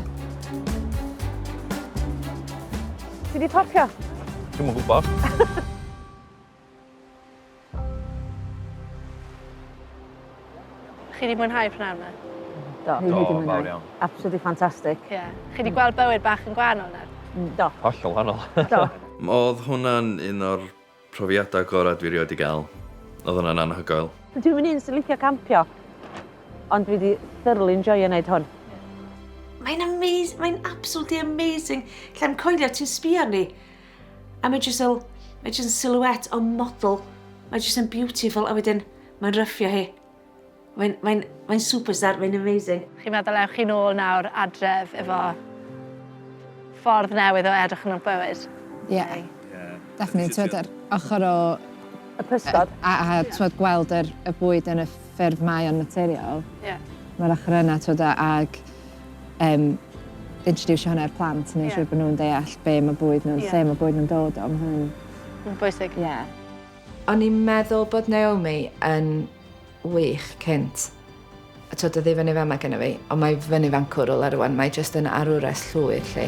[SPEAKER 4] Ti di popio? Dwi'n mwyn gwybod.
[SPEAKER 12] Chi wedi mwynhau prynawn yma? Do. Do, fawr
[SPEAKER 4] iawn.
[SPEAKER 8] Absolutely fantastic.
[SPEAKER 4] Ie. Yeah. Chi wedi gweld
[SPEAKER 12] bywyd bach yn gwahanol nawr? Mm, do. Hollol wahanol.
[SPEAKER 8] Do. Oedd
[SPEAKER 4] hwnna'n
[SPEAKER 10] un o'r profiadau gorau dwi rioed di gael. Oedd hwnna'n anhygoel. Dwi'n mynd un sy'n licio
[SPEAKER 4] campio, ond dwi wedi thoroughly enjoyio wneud hwn. Mae'n
[SPEAKER 2] amazing, mae'n absolutely amazing. Lle'n coelio ti'n sbio arni. A mae jyst fel, mae jyst yn silhouette o model. Mae jyst yn beautiful a wedyn mae'n ryffio hi. Mae'n mae mae superstar, mae'n amazing. Chi'n meddwl ewch chi nôl
[SPEAKER 12] nawr adref efo ffordd newydd o edrych yn y bywyd? Ie. Yeah. Yeah. Definitely. Ti'n meddwl, ochr o... Y pysgod.
[SPEAKER 4] A, a, a yeah. gweld
[SPEAKER 12] yr, y bwyd yn y ffurf mae o'n materiol. Ie. Yeah. Mae'r ochr yna, ti'n meddwl, ag um, introduce hwnna i'r plant, neu yeah. siŵr bod nhw'n deall be mae bwyd nhw'n, yeah. lle mae bwyd nhw'n dod o, mae hwnna'n... bwysig. Ie. Yeah. O'n i'n
[SPEAKER 3] meddwl bod Naomi yn wych cynt. A twyd, oedd ei fyny fama gyda fi, ond mae fyny fan cwrwl ar rwan, mae jyst yn arwres llwyr lle.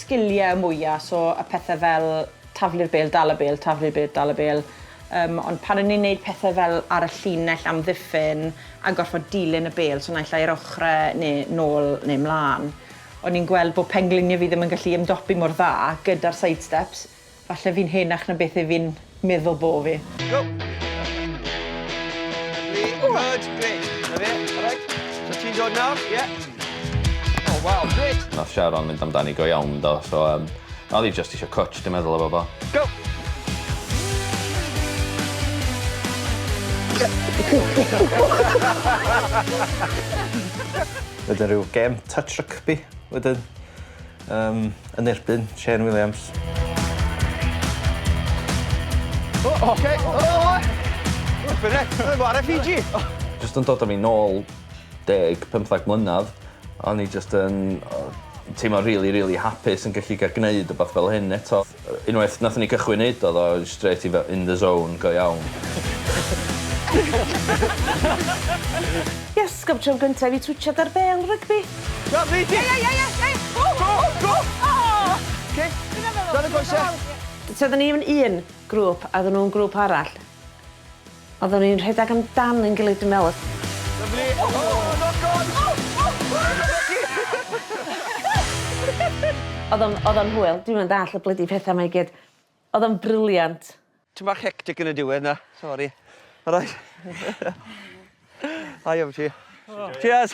[SPEAKER 4] sgiliau mwya', so y pethe' fel taflu'r bêl, dal y bêl, taflu'r bêl, dal y bêl, yym ond pan o'n i'n neud pethe' fel ar y llinell amddiffyn a gorffod dilyn y bêl, so naill ai yr ochre' ne' nôl ne' mlan, o'n i'n gweld bo' penglinie fi ddim yn gallu ymdopi mor dda gyda'r side steps. Falle fi'n henach na beth 'yf fi'n meddwl bo' fi. Go!
[SPEAKER 14] Lovely, good, great. Na fe, alright. So ti'n dod nawr, ie? O waw, grêt! Nath Sharon mynd amdani
[SPEAKER 8] go iawn do, so yym o'dd 'i jyst isio cwtsh dwi'n meddwl efo fo. Go!
[SPEAKER 6] Wedyn ryw gem touch rygbi wedyn. Yym, yn erbyn Shane Williams.
[SPEAKER 14] O! O! Oce! O! Flippin' heck! Mae o ar FEG! Jyst yn dod â
[SPEAKER 8] fi nôl deg, pymthag mlynadd, o'n i jyst yn yy teimlo rili rili hapus yn gallu ga'l gneud wbath fel hyn eto. Unwaith nathon ni cychwyn neud o oddo strêt i fe- in the zone go iawn.
[SPEAKER 2] Yes, gof tro gynta i fi twtshad dar bêl rygbi. Go Bees! Ie ie
[SPEAKER 14] ie ie ie! Go go go! Oh! Oce. Dyna fe. Dyna goese. So odda ni mewn
[SPEAKER 2] un grŵp a odda n'w yn grŵp arall. Oeddwn ni'n rhedeg amdan ein gilydd dwi'n meddwl. Lyfli! O!
[SPEAKER 14] Knock on! O! O!
[SPEAKER 2] Odd o'n odd o'n hwyl. Dwi'm yn dall y blydi petha 'ma i gyd. Odd o'n brilliant. Tym bach hectic
[SPEAKER 14] yn y diwedd 'na. Sori. Alright. Da iawn ti. Cheers.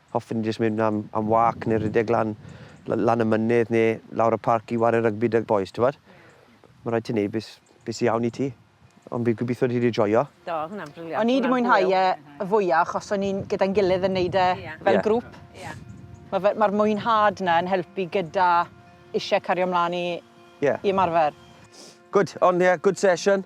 [SPEAKER 14] Hoffen ni jyst mynd am am wâc neu rhedeg lan la- lan y mynydd neu lawr y parc i ware rygbi 'da'r bois t'wbod? Ma' raid ti neud be' s- be' sy iawn i ti. Ond fi gobitho ti 'di joio. Do, odd hwnna'n briliant. O'n
[SPEAKER 2] i 'di mwynhau e
[SPEAKER 4] y fwya achos o'n i'n gyda'n gilydd yn neud e fel... Ie. ...grŵp. Ie. Ma' fe ma'r mwynhad 'na yn helpu gyda isie cario mlan i... Ie. ...i ymarfer. Good,
[SPEAKER 14] on' ie, good session.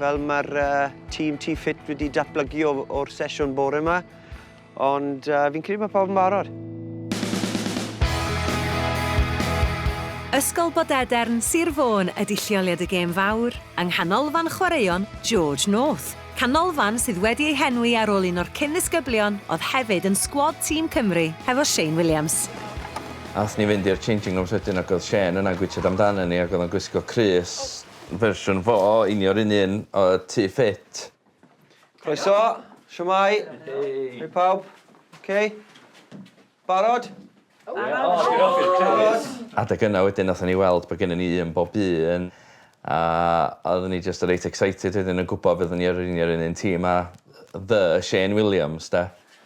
[SPEAKER 14] Fel mae'r tîm Tŷ Ffit wedi datblygu o'r sesiwn bore 'ma, ond fi'n credu bod pawb yn barod.
[SPEAKER 7] Ysgol Bodedern, Sir Fôn ydy lleoliad y gêm fawr, yng Nghanolfan Chwaraeon George North. Canolfan sydd wedi ei henwi ar ôl un o'r cyn-ddisgyblion oedd hefyd yn sgwad tîm Cymru hefo Shane Williams. Aethon ni
[SPEAKER 8] fynd i'r changing rooms wedyn ac oedd Shane yna'n gwitsiad amdanyn ni ac oedd o'n gwisgo crys. Fersiwn fo, union run un o Tŷ Ffit. Croeso,
[SPEAKER 14] shwmae? Hei pawb, ok? Barod? Barod?
[SPEAKER 8] Adeg yna wedyn nathon ni weld bo' gennyn ni un bob un a oeddwn ni jyst reit excited wedyn yn gwbo fyddwn ni yr union yr un un tîm a The Shane Williams 'de.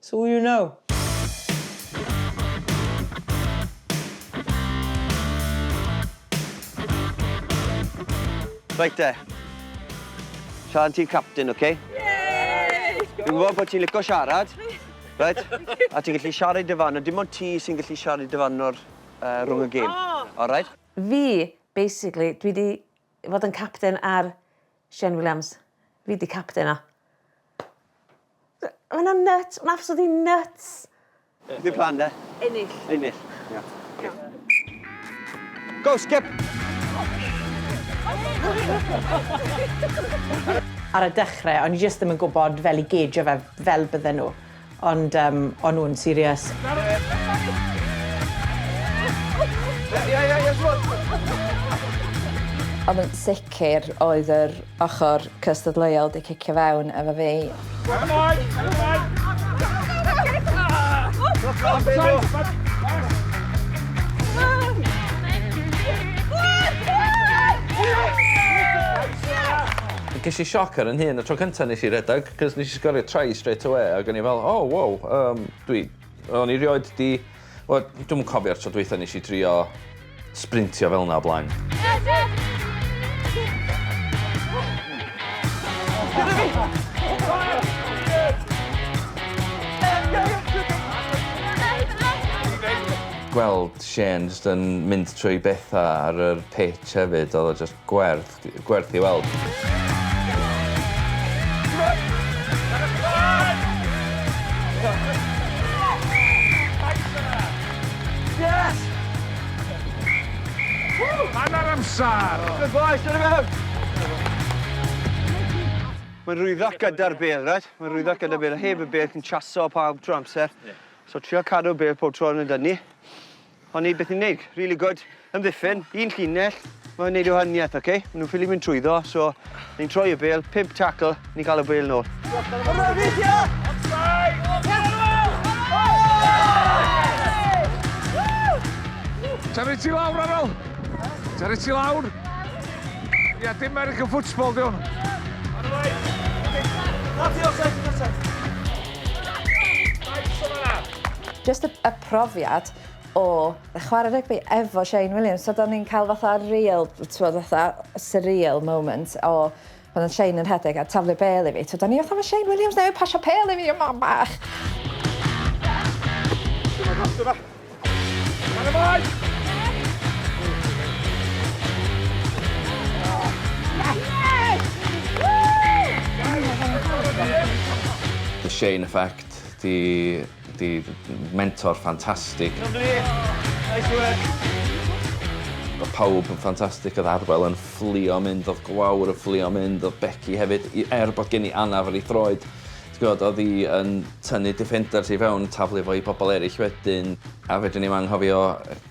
[SPEAKER 4] So you know.
[SPEAKER 14] Reit te. Sian ti'n captain, oce? Okay? Dwi'n gwybod bod ti'n licio siarad, right? a ti'n gallu siarad dy fan, a dim ond ti sy'n gallu siarad dy fan o'r uh, rhwng y gêm. Oh. All right? Fi,
[SPEAKER 2] basically, dwi wedi fod yn captain ar Shane Williams. Fi 'di capten o. Yy ma' wnna'n nyts. Ma'n absolutely nyts. Dim plan
[SPEAKER 14] 'de? Ennill. Ennill. Ia. Oce. Go
[SPEAKER 4] Skip! Ar y dechre o'n i jyst ddim yn gwbod fel i geidio fe fel bydden nhw. Ond yym, o'n nhw'n serious?
[SPEAKER 3] Ond yn sicr oedd yr ochr cystadleuol 'di cicio fewn efo fi.
[SPEAKER 8] Ges i sioc ar 'yn hun y tro cynta' nes i redeg. Cos nes i sgorio try straight away ag o'n i fel oh wow yym dwi... O'n i rioed 'di wel dwi'm yn cofio'r tro dwytha nes i drio sprintio fel 'na o blaen. Gweld Shane jyst yn mynd trwy betha ar yr pitch hefyd odd o jyst gwerth. gwerth i weld. Yes! Hanner amser!
[SPEAKER 13] Good boys, dyna
[SPEAKER 14] mewn! Mae'n rhwyddo gyda'r bel, right? Mae'n rhwyddo gyda'r bel. Heb y bel, ti'n chaso pawb trwy amser. So, trio cadw bel pob tro yn y dynnu. O'n neud beth o'n neud. Rili gwd. Amddiffyn. Un llinell. Mae'n neud ei wahaniaeth, oce? Maen nhw'n ffili mynd trwyddo, so ni'n troi y bêl, pump tackle, ni'n cael y bêl nôl.
[SPEAKER 13] Tari ti lawr, Arol! Tari ti lawr! Ia, dim American football, diwn.
[SPEAKER 3] Just a, a profiad o chwarae rygbi efo Shane Williams so 'da ni'n cael fatha real t'mod fatha surreal moment o pan odd Shane yn rhedeg a taflu bel i fi t'od o'n i fatha ma' Shane Williams newydd pasio pêl i fi y mam bach! Dyma fo dyma.
[SPEAKER 8] Lan y boi! The Shane effect 'di Di mentor ffantastig. Lyfli! Nice work! Oedd pawb yn ffantastig, oedd Arwel yn fflio mynd, oedd Gwawr yn fflio mynd, oedd Becky hefyd, er bod gen i anaf ar ei throed. Ti'n gwybod, oedd hi yn tynnu defenders i fewn, taflu fo i bobl eraill wedyn. A fedrwn i'm anghofio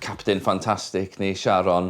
[SPEAKER 8] captain ffantastig ni, Sharon.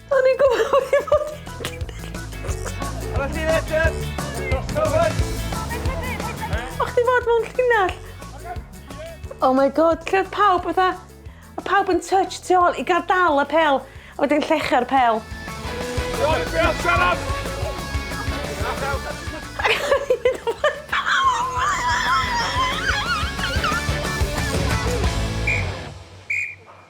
[SPEAKER 2] O'n i'n gwybod bod hi'n bod
[SPEAKER 14] hi'n llinell. Arall i Richard.
[SPEAKER 2] Cover. O chdi fod mewn llinell. Oh my god, lle oedd pawb fatha... Oedd pawb yn touch tu ôl i gael dal y pel. A wedyn llecha'r pel. John,
[SPEAKER 13] be oedd siarad?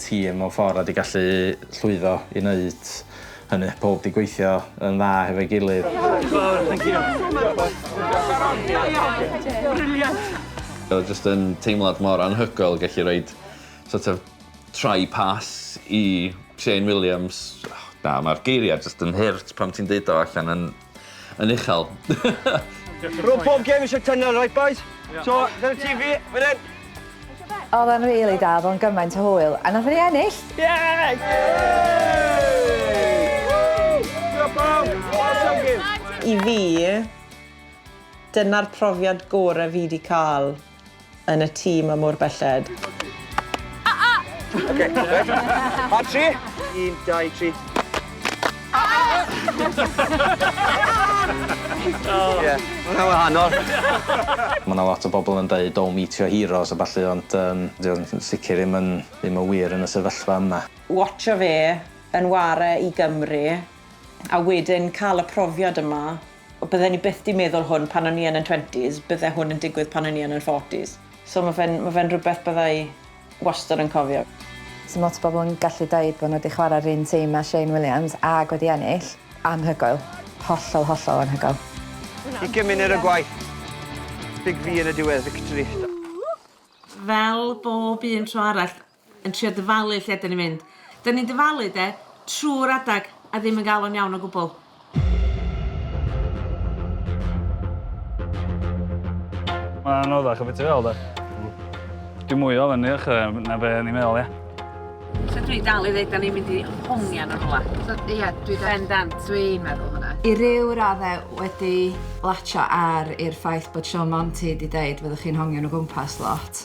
[SPEAKER 6] tîm mewn ffordd a 'di gallu llwyddo i wneud hynny. Pawb 'di gweithio yn dda hefo'i gilydd.
[SPEAKER 8] Oedd o jyst yn teimlad mor anhygoel gallu roid sort of try pass i Shane Williams. Na, mae'r geiriau jyst yn hurt pan ti'n deud o allan yn Yn uchel.
[SPEAKER 14] Rwy'n pob gem eisiau tunnel, right boys? Yeah. So, dyna ti fi, fan hyn. Oedd
[SPEAKER 3] e'n rili really da, fo'n gymaint o hwyl, a nath ni ennill! Yes!
[SPEAKER 4] I fi, dyna'r profiad gorau fi wedi cael yn y tŷ ma mor belled. Oce,
[SPEAKER 14] reit. Ar tri. Un, dau, tri. Ie, ma' hwnna'n wahanol. Ma'
[SPEAKER 6] 'na lot o bobl yn deud don't meet your heroes a ballu ond yym 'di o'n sicr ddim yn ddim yn wir yn y sefyllfa yma. Watsho fe
[SPEAKER 4] yn ware i Gymru a wedyn ca'l y profiad yma. Bydden i byth 'di meddwl hwn pan o'n i yn yn twenties, bydde hwn yn digwydd pan o'n i yn yn forties. So ma' fe'n ma' fe'n rhywbeth bydda i wastad yn cofio. So ma' lot o bobl
[SPEAKER 3] yn gallu deud bo' n'w 'di chwarae 'r un tîm â Shane Williams ag wedi ennill. Anhygoel. Hollol, hollol anhygoel. Ugain munud
[SPEAKER 14] o gwaith. Big V yn y diwedd. Victory. Fel
[SPEAKER 2] bob un tro arall. yn trio dyfalu lle dan ni'n mynd. Dan ni'n dyfalu, de, trwy'r adeg a ddim yn gael o'n iawn o gwbl.
[SPEAKER 15] Mae'n anoddach o beth i feddwl, de. Dwi'n mwy o ofyn i'r na be o'n i'n meddwl, ie. So dwi dal i ddweud, da ni'n mynd i hongian o'r ola.
[SPEAKER 2] So, ie, dwi dal...
[SPEAKER 3] Bendant. Dwi'n meddwl hwnna. I ryw raddau wedi latio ar i'r ffaith bod Sean Monty di dweud fyddwch chi'n hongian o gwmpas lot.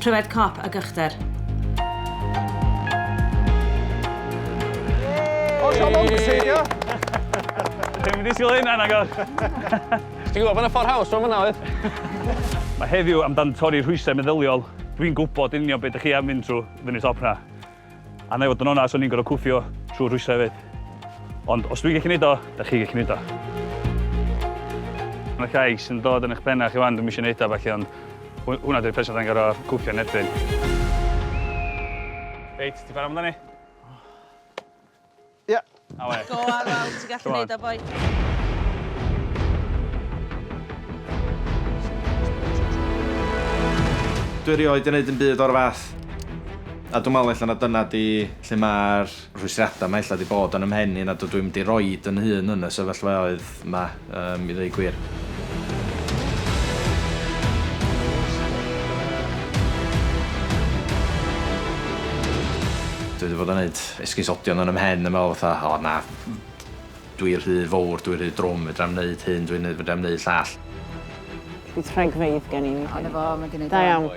[SPEAKER 2] Pryfed cop ag ychder.
[SPEAKER 13] O, siom o'n gyseidio!
[SPEAKER 15] Dwi'n mynd i sgil hynna, nagor. Ti'n
[SPEAKER 8] gwybod bod yna ffordd haws o'n fyna, oedd? Mae heddiw amdan
[SPEAKER 15] torri rhwysau meddyliol. Dwi'n gwybod yn union beth ydych chi am fynd trwy fyny top na. A na i fod yn onast, o'n i'n gorfod cwffio trwy rwysau hefyd. Ond os dwi'n gallu gwneud o, da chi gallu gwneud o. Mae llais yn dod yn eich penna chi wan, dwi'n eisiau gwneud o falle, ond hwnna dwi'n person da'n gorau cwffio yn erbyn. Reit, ti'n fawr amdani?
[SPEAKER 2] Ie. Go
[SPEAKER 6] on, wel, ti'n gallu neud o, boi. Dwi erioed yn neud yn byd o'r fath. A dwi'n meddwl ella na dyna di lle mae'r rhwystrata yma ella di bod yn ymhen i nad ydw i'n mynd i roed yn hun yn y sefyllfaoedd 'ma, i ddweud gwir. Dwi 'di bod yn neud esgusodion yn 'y mhen yn me'wl fatha o na, dwi rhy fowr, dwi rhy drwm, fedrai'm neud hyn, dwi'n neud, fedrai'm neud llall. Bydd
[SPEAKER 4] rhagfeydd gen i. Ond efo, ma' gennai dau.
[SPEAKER 3] Da iawn.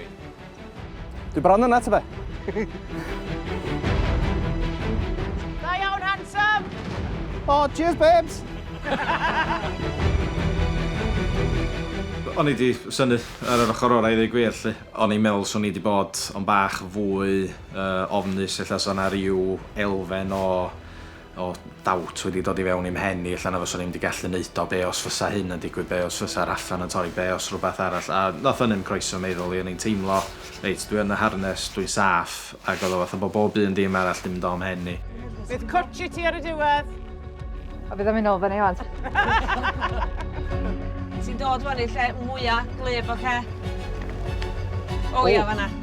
[SPEAKER 13] Dwi bron yna, ta be?
[SPEAKER 11] Da iawn, handsome! O, oh,
[SPEAKER 13] cheers, babes!
[SPEAKER 6] O'n i di synu ar yr ochr orau i ddweud gwir, lle. O'n i'n meddwl swn i wedi bod o'n bach fwy uh, ofnus, lle sa na rhyw elfen o o doubt wedi dod i fewn i'm mhen i ella na fyswn i'm 'di gallu neud o, be' os fysa hyn yn digwydd, be' os fysa'r allan yn torri, be' os rwbath arall, a nath hynny'm croeso meddwl i, o'n i'n teimlo reit dwi yn y harness, dwi'n saff, ag o'dd o fatha bo' bob un dim arall 'di mynd o'm mhen i. Bydd cwtsh i ti
[SPEAKER 11] ar y diwedd! A bydd o'n
[SPEAKER 3] mynd nôl fyny ŵan. Ti'n
[SPEAKER 2] dod ŵan i'r lle mwya' gwlyb, ocê? O ia, fan'na.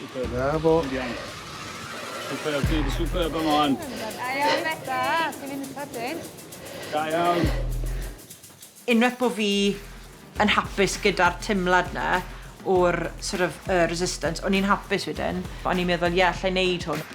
[SPEAKER 9] Super, da fo. Ti'n iawn.
[SPEAKER 15] Super, ti di super be mlaen. Da iawn Beca,
[SPEAKER 12] ti'n mynd sydyn.
[SPEAKER 15] Da iawn.
[SPEAKER 4] Unwaith bo fi yn hapus gyda'r timlad na o'r sort of yy resistance o'n i'n hapus wedyn. O'n i'n meddwl ie allai neud hwn.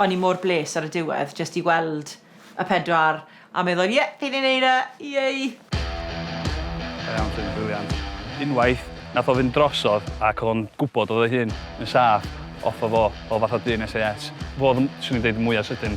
[SPEAKER 12] O'n i
[SPEAKER 4] mor bles ar y diwedd jyst i weld y pedwar a meddwl ie, fi 'di neud e! Yay!
[SPEAKER 15] Da iawn Llyn, briliant. Unwaith, nath o fynd drosodd ac odd o'n gwbod odd ei hun yn saff off o fo, fel fath o dyn SAS. Fo odd y, swn i'n deud, y mwya sydyn.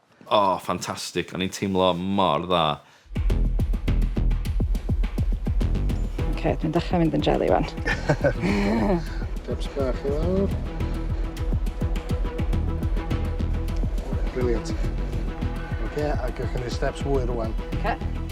[SPEAKER 8] O,
[SPEAKER 10] ffantastig, o'n i'n teimlo mor dda.
[SPEAKER 3] Ok, dwi'n dechrau mynd yn jelly wan. Caps
[SPEAKER 9] bach i lawr. Brilliant. Ok, a gyrch yn ei steps fwy rwan. Ok.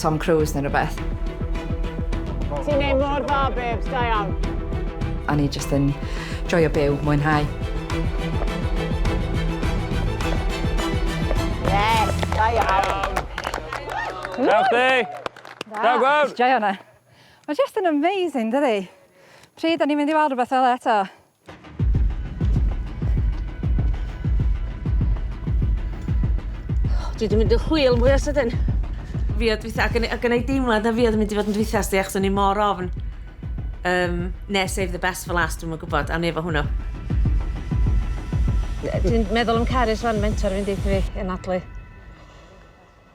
[SPEAKER 3] Tom Cruise neu rhywbeth.
[SPEAKER 4] Ti'n neud mor dda, babes, da iawn. O'n i jyst
[SPEAKER 3] yn joio byw, mwynhau.
[SPEAKER 4] Yes,
[SPEAKER 15] da iawn. Da chdi! Da gwrdd! Joio hwnna.
[SPEAKER 12] Mae jyst yn amazing, dydi? Pryd o'n i'n mynd i weld rhywbeth fel eto?
[SPEAKER 2] Dwi wedi mynd yn chwil mwy o sydyn. Fi oedd dwytha, ac yn, ac yn ei deimlad na fi oedd yn mynd i fod yn dwytha sti, achos o'n i mor ofn. Um, ne, save the best for last, dwi'n mwyn gwybod, am ni efo hwnnw. Dwi'n meddwl am Carys fan mentor fi'n deitha fi, yn adlu.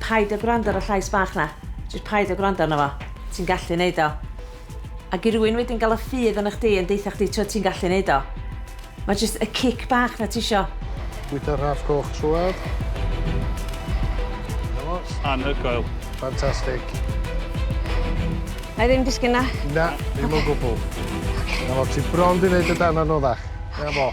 [SPEAKER 2] Paid a gwrando ar y llais bach 'na. Jyst paid a gwrando arno fo. Ti'n gallu neud o. Ag i rywun wedyn gael y ffydd arna chdi yn deutha chdi t'od ti'n gallu neud o. Mae jyst y cic bach 'na tisio. Bwyta'r rhaff
[SPEAKER 9] coch trwad. Dyna
[SPEAKER 15] fo. Anhygoel. Fantastic.
[SPEAKER 2] Na'i ddim disgyn na. Na, ddim o gwbwl.
[SPEAKER 9] Ocê. 'Na fo, ti bron 'di neud y darn anoddach. Dyna fo.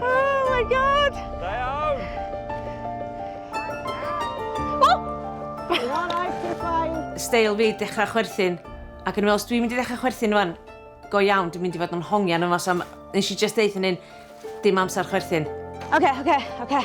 [SPEAKER 15] Oh my god!
[SPEAKER 2] Da iawn! Steil fi, dechrau chwerthin. Ac yn os dwi'n mynd i ddechrau chwerthin fan, go iawn, dwi'n mynd i fod yn hongian yma, so nes i just deud hynny'n dim amser chwerthin. Oce, okay, oce, okay, oce. Okay.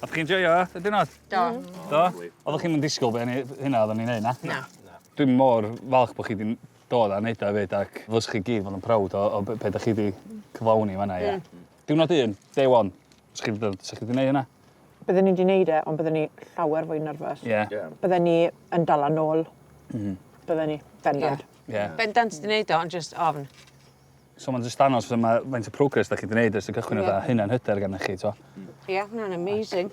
[SPEAKER 15] O'ch chi'n joio y diwrnod? Do. Do?
[SPEAKER 11] Oddach
[SPEAKER 15] chi'm yn disgwyl be' o'n i hynna oddan ni'n neud na? Na. Na. Dwi
[SPEAKER 11] mor
[SPEAKER 15] falch bo' chi 'di dod a neud o 'fyd ac ddylswch chi gyd fod yn proud o o be' be' 'dach chi 'di cyflawni fan 'na ie? Hmm. Diwrnod un, day one. Sa chi 'di dod sa chi 'di neud hynna? Bydden i 'di neud
[SPEAKER 4] e ond bydden i llawer fwy nyrfys. Ie. Ie. Bydden i
[SPEAKER 15] yn
[SPEAKER 4] dala nôl. M-hm. Bydden i. Bendant. Ie. Ie. Bendant 'di
[SPEAKER 15] neud o ond
[SPEAKER 2] jyst ofn. So mae'n
[SPEAKER 15] just danos faint o progress da chi wedi gwneud ers
[SPEAKER 2] y
[SPEAKER 15] cychwyn a hynna'n hyder
[SPEAKER 2] gennych
[SPEAKER 15] chi. Ie, hwnna'n amazing.